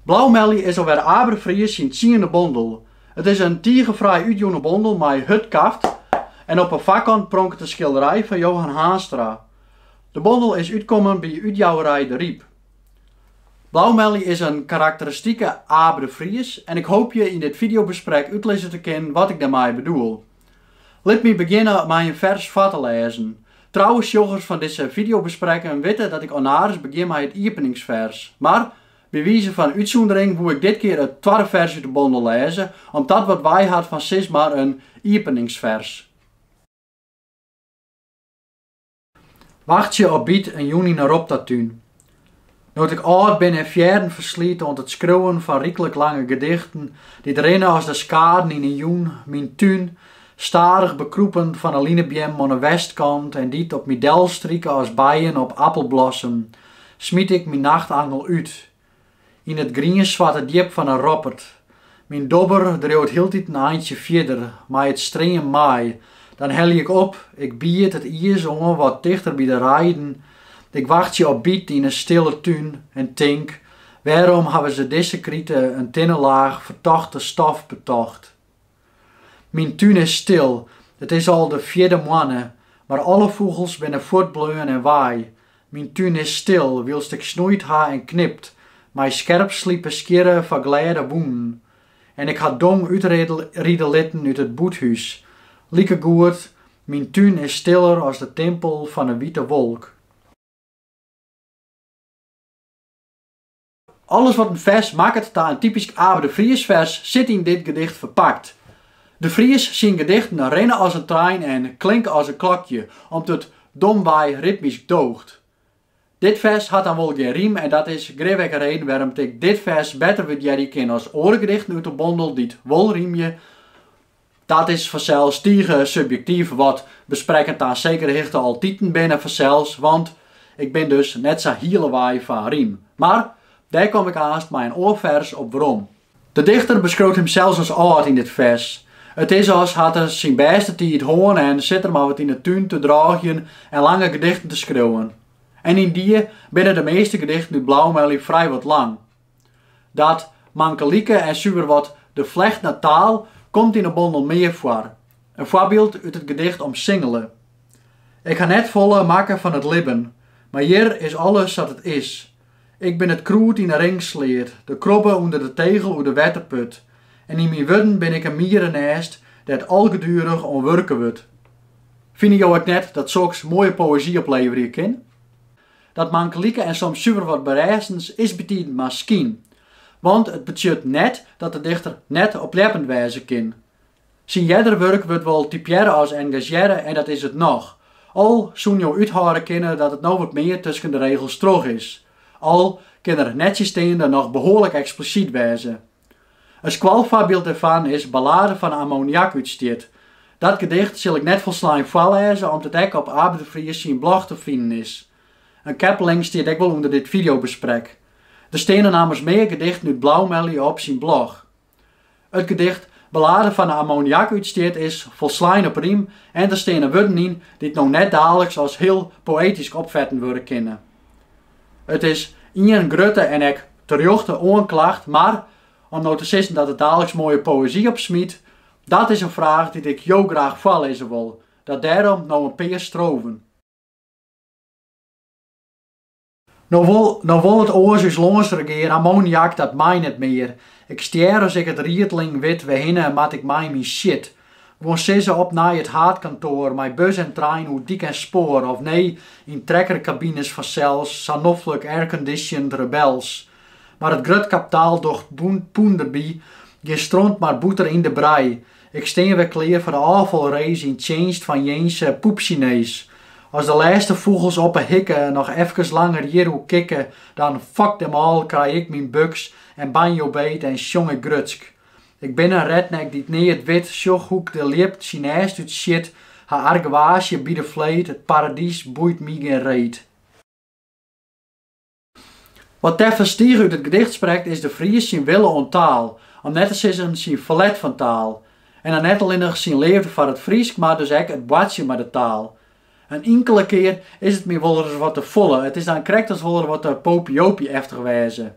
Blaumelje is alwer Abe de Vries syn tsiende bondel. It is in tige fraai útjûne bondel mei hurd kaft en op 'e foarkant pronket in skilderij fan Johan Haanstra. De bondel is útkommen by útjouwerij De Ryp. Blaumelje is in karakteristike Abe de Vries en ik hoopje yn dit fideobesprek útlizze te kinnen wat ik dêrmei bedoel. Lit my begjinne mei in fers foar te lêzen. Trouwe sjochers fan dizze fideobesprekken witte dat ik ornaris begjin mei it iepeningsfers. Mar, by wize fan útsûndering woe ik dit kear it twadde fers út de bondel lêze, om't dat wat wei hat fan sis mar in iepeningsfers. Wachtsje op byt in jûn yn 'e Roptatún. No't ik âld bin en fearren ferslyt oan it skriuwen fan ryklik lange gedichten, dy't rinne as de skaden yn 'e jûn, myn tún, stadich bekrûpen fan 'e linebeammen oan 'e westkant en dy't op my delstrike as bijen op appelblossem, smyt ik myn nachtangel út, Yn it grienswarte djip fan 'e Roppert. Myn dobber driuwt hieltyd in eintsje fierder mei it streamen mei. Dan helje ik op, ik bied it ies oan wat tichter by de reiden. Ik wachtsje op byt yn 'e stille tún en tink, wêrom hawwe se dizze krite in tinne laach fertochte stof betocht? Myn tún is stil, it is al de fjirde moanne, mar alle fûgels binne fuortbleaun en wei. Myn tún is stil, wylst ik snoeit ha en knipt, mei skerp slipe skjirre foar glêde wûnen. En ik ha dong útride litten út it bûthûs. Likegoed, myn tún is stiller as de timpel fan 'e wite wolk. Alles wat in fers makket ta in typysk Abe de Vries-fers sit yn dit gedicht ferpakt. De Vries syn gedichten rinne as in trein en klinke as in klokje, om't it domwei ritmysk doocht. Dit fers hat dan wol gjin rym en dat is grif ek de reden wêrom't ik dit fers better wurdearje kin as oare gedichten út de bondel dy't wol rymje, Dat is fansels tige subjektyf, wat besprekken ta in sekere hichte altiten binne fansels, want ik bin dus net sa hiele wei fan rym. Mar dêr kom ik aanst mei in oar fers op werom. De dichter beskriuwt himsels as âld yn dit fers. It is as hat er syn bêste tiid hân en sit er mar wat yn 'e tún te drôgjen en lange gedichten te skriuwen. En yndie binne de measte gedichten út Blaumelje frijwat lang. Dat mankelike en suver wat de flecht nei taal komt yn 'e bondel mear foar. In foarbyld út it gedicht Omsingele. Ik ha net folle makke fan it libben, mar hjir is alles sa't it is. Ik bin it krûd yn 'e ringsleat, de krobbe ûnder de tegel oer de wetterput, en yn myn wurden bin ik in mierenêst dêr't algeduerich oan wurke wurdt. Fine jo ek net dat soks moaie poëzy opleverje kin? Dat mankelike en soms suver wat berêstends is bytiden mar skyn, want it betsjut net dat de dichter net opljeppend wêze kin. Syn earder wurk wurdt wol typearre as engazearre en dat is it noch, al soene jo úthâlde kinne dat it no wat mear tusken de regels troch is, al kin er nettsjinsteande noch behoarlik eksplisyt wêze. In skoalfoarbyld dêrfan is Ballade fan ammoniakútstjit. Dat gedicht sil ik net folslein foarlêze om't it ek op Abe de Vries syn blog te finen is. In keppeling stiet ek wol ûnder dit fideobesprek. Der steane nammers mear gedichten út Blaumelje op syn blog. It gedicht Ballade fan ammoniakútstjit is folslein op rym en der steane wurden yn dy't no net daliks as hiel poëtysk opfetten wurde kinne. It is ien grutte en ek terjochte oanklacht, mar om no te sizzen dat it daliks moaie poëzy opsmyt, dat is in fraach dy't ik jo graach foarlizze wol, dat dêrom no in pear strofen. No wol it oars ús lâns regear, ammoniak dat mei net mear. Ik stjer as ik it riedling wit wêrhinne moat ik mei myn shit. Guon sizze op nei it haadkantoar mei bus en trein oer dyk en spoar, of nee, yn trekkerkabines fansels, sa noflik airconditioned rebels. Mar it grut kaptaal docht poen derby gjin stront mar boeter yn de brij. Ik stean wer klear foar de ôffalrace yn tsjinst fan jins poepsinees. As de lêste fûgels oppe hikke noch efkes langer hjirûk kikke, dan, fuck them all, krij ik myn buks en banjo beet en sjong ik grutsk. Ik bin in redneck dy't neat wit, sjoch hoe't ik de ljip syn nêst út sjit, ha argewaasje by de fleet, it paradys boeit my gjin reet. Wat teffens tige út it gedicht sprekt is De Vries syn wille oan taal, om net te sizzen syn ferlet fan taal. En dan net allinnich syn leafde foar it Frysk, mar dus ek it boartsjen mei de taal. In inkele kear is it my wolris wat te folle, it is dan krekt as wol er wat te popiejopie-eftich wêze.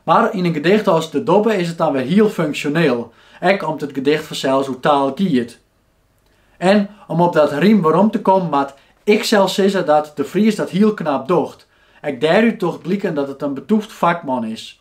Mar yn in gedicht as De Dobbe is it dan wer hiel funksjoneel, ek om't it gedicht fansels oer taal giet. En om op dat rym werom te kommen moat ik sels sizze dat De Vries dat hiel knap docht. Ek dêrút docht bliken dat it in betûft fakman is.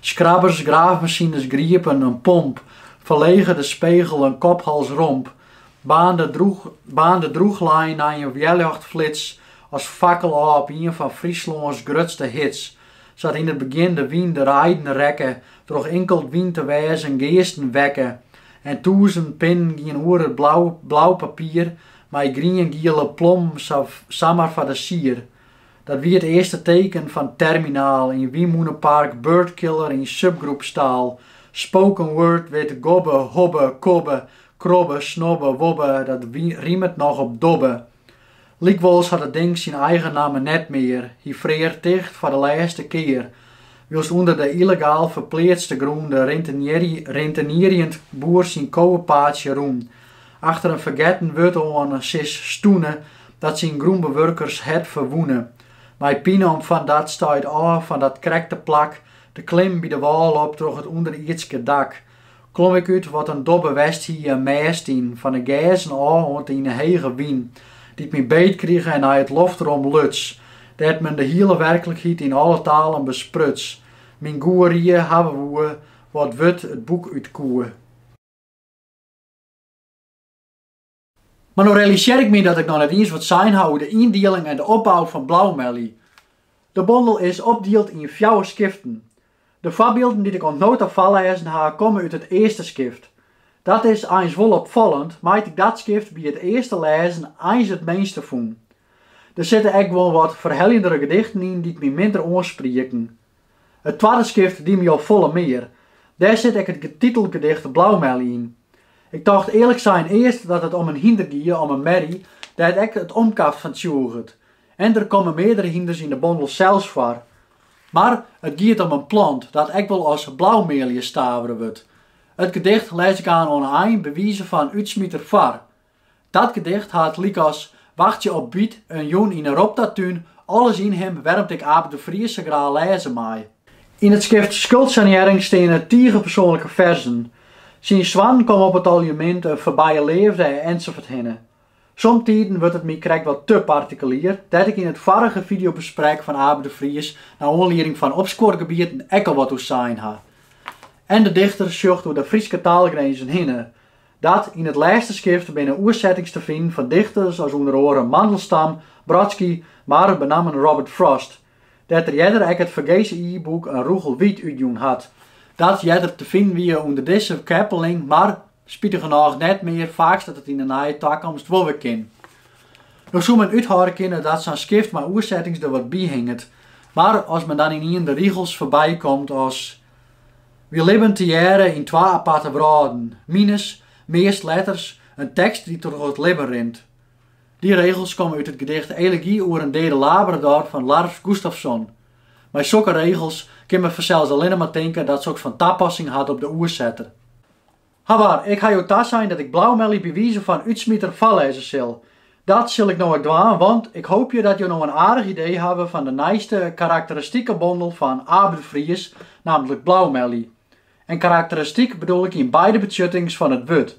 Skrabbers, graafmasines, griepen, in pomp, ferlege de spegel, in kop-hals-romp baarnde drûchlein nei in wjerljochtflits as fakkel ôf op ien fan Fryslâns grutste hits, sa't yn it begjin de wyn de reiden rekke troch inkeld wyn te wêzen geasten wekke en tûzen pinnen gienen oer it blau papier mei grien-giele plommen samar foar de sier. Dat wie it earste teken fan terminaal, in wynmûnepark, birdkiller yn subgroepstaal. Spoken word with gobbe, hobbe, kobbe, krobbe, snobbe, wobbe dat rimet noch op dobbe. Lykwols hat it ding syn eigen namme net mear, hy frear ticht foar de lêste kear, wylst ûnder de yllegaal ferpleatste grûn de rintenierjend boer syn kowepaadsje rûn Achter in fergetten wurd oan sis stûne dat syn grûnbewurkershert ferwûne. Mei pine om fan dat stuit ôf fan dat krekte plak te klimmen by de wâl op troch it ûnderierdske dak. Klom ik út wat in dobbe west hie in mêst yn, fan 'e gêzen ôf oant yn 'e hege wyn, dy't my beet krige en nei it loftrom luts, dêr't men de hiele werklikheid yn alle talen bespruts, myn goerie hawwe woe, wat wurd it boek út koe. Mar no realisear ik my dat ik noch net iens wat sein ha oer de yndieling en de opbou fan Blaumelje. De bondel is opdield yn fjouwer skiften. De foarbylden dy't ik oant no ta foarlêzen ha komme út it earste skift. Dat is eins wol opfallend, mei't ik dat skift by it earste lêzen eins it minste fûn. Der sitte ek guon wat ferheljendere gedichten yn dy't my minder oansprieken. It twadde skift die my al folle mear. Dêr sit ek it titelgedicht Blaumelje yn. Ik tocht earlik sein earst dat it om in hynder gie om in merrie dêr't ek it omkaft fan tsjûget. En der komme meardere hynders yn de bondel sels foar. Mar it giet om in plant dat ek wol as blaumealje stavere wurdt. It gedicht lês ik aanst oan 'e ein by wize fan útsmiter foar. Dat gedicht hat lykas Wachtsje op byt en Jûn yn 'e Roptatún alles yn him wêrom't ik Abe de Vries sa graach lêze mei. Yn it skift Skuldsanearring steane tige persoanlike ferzen. Syn soannen komme op it aljemint, de foarbije leafde ensafuorthinne. Somtiden wurdt it my krekt wat te partikulier, dêr't ik yn it foarige fideobesprek fan Abe de Vries nei oanlieding fan Opskuorgebieten ek al wat oer sein ha. En de dichter sjocht oer de Fryske taalgrinzen hinne, Dat yn it lêste skift binne oersettings te finen fan dichters as ûnder oare Mandelstam, Brodsky, mar benammen Robert Frost, dêr't er earder ek it fergese e-boek In rûgel wyt útjûn hat, dat earder te finen wie ûnder dizze keppeling, mar spitigernôch net mear, faaks dat it yn 'e neie takomst wol wer kin. No soe men úthâlde kinne dat sa'n skift mei oersettings der wat by hinget, mar as men dan ynienen de rigels foarbykomt as Wy libben tegearre yn twa aparte wrâlden, mines, meast letters, in tekst dy't troch it libben rint. Dy regels komme út it gedicht Elegy oer in dede Labrador fan Lars Gustafsson. Mei sokke regels kin men fansels allinne mar tinke dat soks fan tapassing hat op de oersetter. Hawar, ik ha jo tasein dat ik Blaumelly by wize fan útsmiter foarlêze sil. Dat sil ik no ek dwaan, want ik hoopje dat jo no in aardich idee hawwe fan de nijste karakteristike bondel fan Abe de Vries, nammentlik Blaumelly. En karakteristyk bedoel ik yn beide betsjuttings fan it wurd.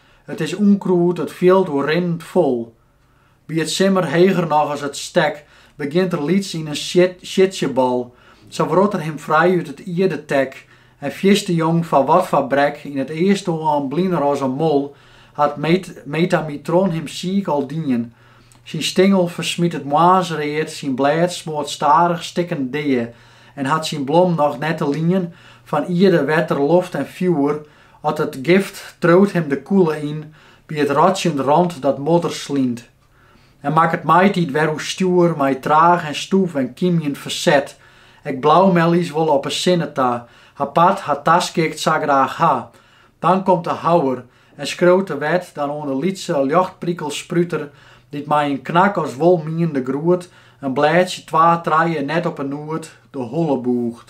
It is ûnkrûd, it fjild oer rinnend fol. By it simmer heger noch as it stek begjint er lyts yn in siedsjebal. Sa wrot er him frij út it ierdetek en fierste jong foar wat foar brek yn it earstoan bliner as in mol, hat Metamitron him siik al dien. Syn stingel fersmyt it moarnsread, syn blêd smoart stadich stikken dea en hat syn blom noch net te lien fan ierde, wetter, loft en fjoer, As it gift triuwt him de kûle yn by it rotsjend rond dat modder slynt, en makket maitiid wer oerstjoer mei traach en stûf en kymjend ferset. Ek Blaumellies wolle op 'e sinne ta har part, har taskikt sa graach ha. Dan komt de houwer en skriuwt de wet dan oan de lytse ljochtprikelspruter dy't mei in knak as wolmienende groet in blêdzje twa trije net op 'e noed de holle bûcht.